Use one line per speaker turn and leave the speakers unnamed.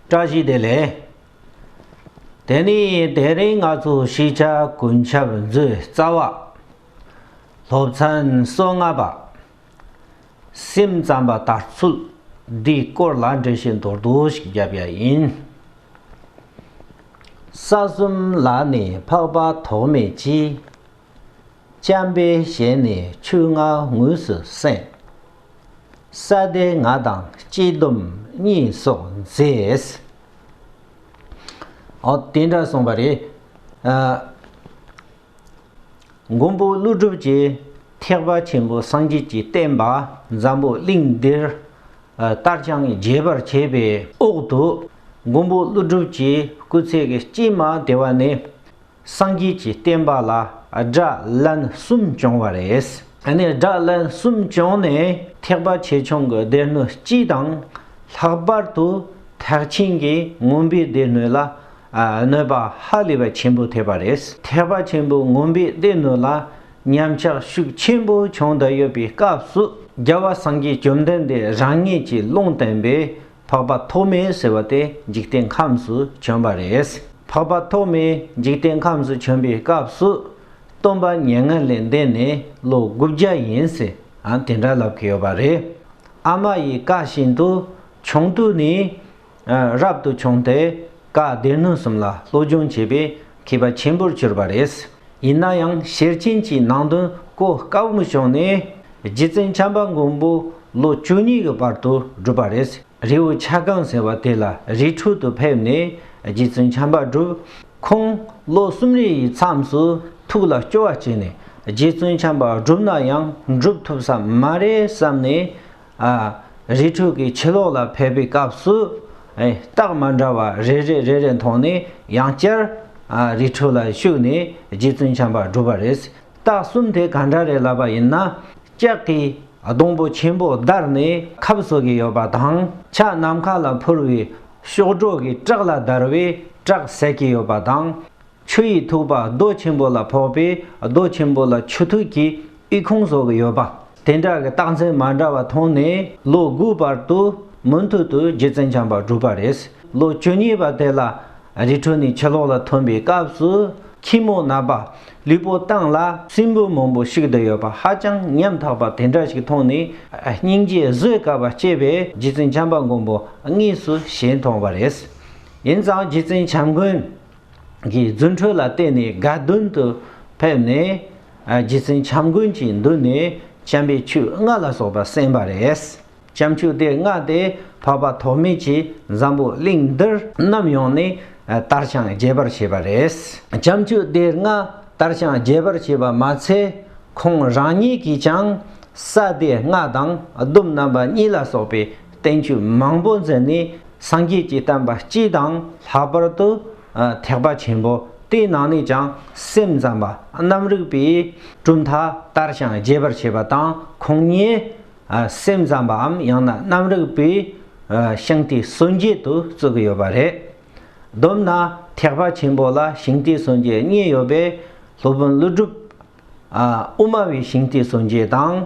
བཀྲ་ཤིས་བདེ་ལེགས། དེ་ནས་དེ་རིང་ང་ཚོ་ཤེས་བྱ་ཀུན་ཁྱབ་མཛོད་རྩ་བ། སློབ་ཚན་སོ་ལྔ་པ། སེམས་ཙམ་པ་ལྟར་ཚུལ་འདིའི་སྐོར་ལ་འགྲེལ་བཤད་མདོར་བསྡུ་ཞིག་བརྒྱབ་པ་ཡིན། ས་གསུམ་ལ་ནི་འཕགས་པ་ཐོགས་མེད་ཀྱིས། བྱམས་པའི་ཞལ་ནས་ཆུ་ང་ངུས་སུ་གསན། ས་སྡེ་ང་དང་སྐྱིད་སྡོམ་གཉིས་སོགས་མཛད། ཨོ། དེ་འདྲ་གསུངས་པ་རེད། མགོན་པོ་ཀླུ་སྒྲུབ་ཀྱིས་ཐེག་པ་ཆེན་པོ་སངས་རྒྱས་ཀྱི་བསྟན་པ་འཛམ་བུ་གླིང་འདིར་ལྟར་བྱང་རྒྱས་པར་བྱས་པའི་འོག་ཏུ། མགོན་པོ་ཀླུ་སྒྲུབ་ཀྱི་སྐུ་ཚེ་གཅིག་མ་དེ་བ་ནས། སངས་རྒྱས་ཀྱི་བསྟན་པ་ལ་དགྲ་བླན་གསུམ་བྱུང་བ་རེད། ནས་དགྲ་བླན་གསུམ་བྱུང་ནས་ཐེག་པ་ཆེ་ཆུང་གི་སྡེ་སྣོད་སྤྱི་དང། ལྷག་པར་དུ་ཐེག་ཆེན་གྱི་དངོས་པོའི་སྡེ་སྣོད་ལ་གནོད་པ་ཧ་ལས་པ་ཆེན་པོ་ཐེབས་པ་རེད། ཐེག་པ་ཆེན་པོའི་དངོས་པོའི་སྡེ་སྣོད་ལ་ཉམས་ཆག་ཤུགས་ཆེན་པོ་བྱུང་བསྡད་ཡོད་པའི་སྐབས་སུ་རྒྱལ་བ་སངས་རྒྱས་བཅོམ་ལྡན་འདས་རང་ཉིད་ཀྱིས་ལུང་བསྟན་པའི་འཕགས་པ་ཐོགས་མེད་ཟེར་བ་དེ་འཇིག་རྟེན་ཁམས་སུ་བྱོན་པ་རེད། འཕགས་པ་ཐོགས་མེད་འཇིག་རྟེན་ཁམས་སུ་བྱོན་པའི་སྐབས་སུ། སྟོན་པ་ཉེར་ལྔ་ལས་འདས་ནས་ལོ་དགུ་བརྒྱ་ཡིན་ཟེར་དེ་འདྲ་ལབ་ཀྱི་ཡོད་པ་རེད། ཨ་མ་ཡི་བཀའ་བཞིན་དུ་ཆུང་དུས་ནས་རབ་ཏུ་བྱུང་སྟེ་བཀའ་སྡེ་སྣོད་གསུམ་ལ་སློབ་སྦྱོང་བྱས་པས་མཁས་པ་ཆེན་པོར་གྱུར་པ་རེད། ཡིན་ན་ཡང་ཤེར་ཕྱིན་གྱི་ནང་དོན་གོ་དཀའ་བོ་མི་བྱུང་ནས་རྗེ་བཙུན་བྱམས་པ་མགོན་པོ་ལོ་བཅུ་གཉིས་ཀྱི་བར་དུ་བསྒྲུབས་པ་རེད། རེའུ་ཆ་སྒང་ཟེར་བ་དེ་ལ་རི་ཕྲུག་ཏུ་ཕེབས་ནས་རྗེ་བཙུན་བྱམས་པ་བསྒྲུབས། ཁོང་ལོ་གསུམ་རེ་ཡི་མཚམས་སུ་ཐུགས་ལ་སྐྱོ་བ་སྐྱེས་ནས་རྗེ་བཙུན་བྱམས་པ་བསྒྲུབས་ན་ཡང་འགྲུབ་ཐུབ་ས་མ་རེད་བསམ་ནས་རི་ཁྲོད་ཀྱི་ཕྱི་ལོགས་ལ་ཕེབས་པའི་སྐབས་སུ། རྟགས་མ་འདྲ་བ་རེ་རེ་རེ་རེ་མཐོང་ནས་ཡང་བསྐྱར། རི་ཁྲོད་ལ་ཞུགས་ནས་རྗེ་བཙུན་བྱམས་པ་བསྒྲུབས་པ་རེད། རྟགས་གསུམ་དེ་ག་འདྲ་རེད་ལབ་པ་ཡིན་ན། ལྕགས་ཀྱི་སྡོང་པོ་ཆེན་པོ་བརྡར་ནས་ཁབ་བཟོ་གི་ཡོད་པ་དང་ཕྱག་ནམ་མཁའ་ལ་འཕུར་བའི་གཤོག་སྒྲོག་གི་བཀྲག་ལ་བརྡར་བས་བཀྲག་ཟེར་གྱི་ཡོད་པ་དང། ཆུ་ཡི་ཐུག་པ་རྡོ་ཆེན་པོ་ལ་ཕོག་པས་རྡོ་ཆེན་པོ་ལ་ཆུ་ཐུག་གི་ཨི་ཁུང་བཟོ་གི་ཡོད་པ། དེ་འདྲ་གི་རྟགས་མཚན་མ་འདྲ་བ་མཐོང་ནས་ལོ་དགུའི་བར་དུ་མུ་མཐུད་དུ་རྗེ་བཙུན་བྱམས་པ་བསྒྲུབས་པ་རེད། ལོ་བཅུ་གཉིས་པ་དེ་ལ་རི་ཁྲོད་ནས་ཕྱི་ལོག་ལ་ཐོན་པའི་སྐབས་སུ་ཁྱི་མོ་ན་པ་ལུས་པོ་བཏང་ལ་སྲིན་འབུ་མང་པོ་བཤིག་བསྡད་ཡོད་པ་ཧ་ཅང་ཉམ་ཐག་པ་དེ་འདྲ་ཞིག་མཐོང་ནས་སྙིང་རྗེ་བཟོད་དཀའ་བ་སྐྱེས་པས་རྗེ་བཙུན་བྱམས་པ་མགོན་པོ་དངོས་སུ་ཞལ་མཐོང་བ་རེད། ཡིན་ཙང་རྗེ་བཙུན་བྱམས་མགོན། གྱི་རྫུ་འཕྲུལ་ལ་བརྟེན་ནས་དགའ་འདུན་དུ་ཕེབས་ནས། རྗེ་བཙུན་བྱམས་མགོན་གྱི་མདུན་ནས་བྱམས་པའི་ཆུ་ལྔ་ལ་སོགས་པ་གསན་པ་རེད། བྱམས་ཆུ་དེར་མངགས་ཏེ་འཕགས་པ་ཐོགས་མེད་ཀྱིས་འཛམ་བུ་གླིང་འདིར་ནམ་ཡོང་ནས་དར་དཔྱངས་རྒྱས་པར་བྱས་པ་རེད། བྱམས་ཆུ་དེར་མངགས་དར་དཔྱངས་རྒྱས་པར་བྱས་པ་མ་ཚད་ཁོང་རང་ཉིད་ཀྱིས་ཀྱང་ས་དེའི་སྔགས་དང་ཟླུམ་རྣམ་པ་གཉིས་ལ་སོགས་པའི་བསྟན་བཅོས་མང་པོ་མཛད་ནས་སངས་རྒྱས་ཀྱིས་བསྟན་པ་སྤྱི་དང་ལྷག་པར་དུ་ཐེག་པ་ཆེན་པོ་དེའི་ནང་ནས་ཀྱང་སེམས་ཙམ་པ་རྣམས་རིགས་པས་གྲུབ་མཐའ་ལྟར་ཞིང་རྒྱས་པར་བྱེད་པ་དང་ཁོང་ཉིད་སེམས་ཙམ་པའམ་ཡང་ན་རྣམ་རིག་པའི་ཤིང་རྟའི་སྲོལ་འབྱེད་དུ་བརྩི་གི་ཡོད་པ་རེད། བསྡོམས་ན་ཐེག་པ་ཆེན་པོ་ལ་ཤིང་རྟའི་སྲོལ་འབྱེད་གཉིས་ཡོད་པས་སློབ་དཔོན་ཀླུ་སྒྲུབ་དབུ་མ་བའི་ཤིང་རྟའི་སྲོལ་འབྱེད་དང།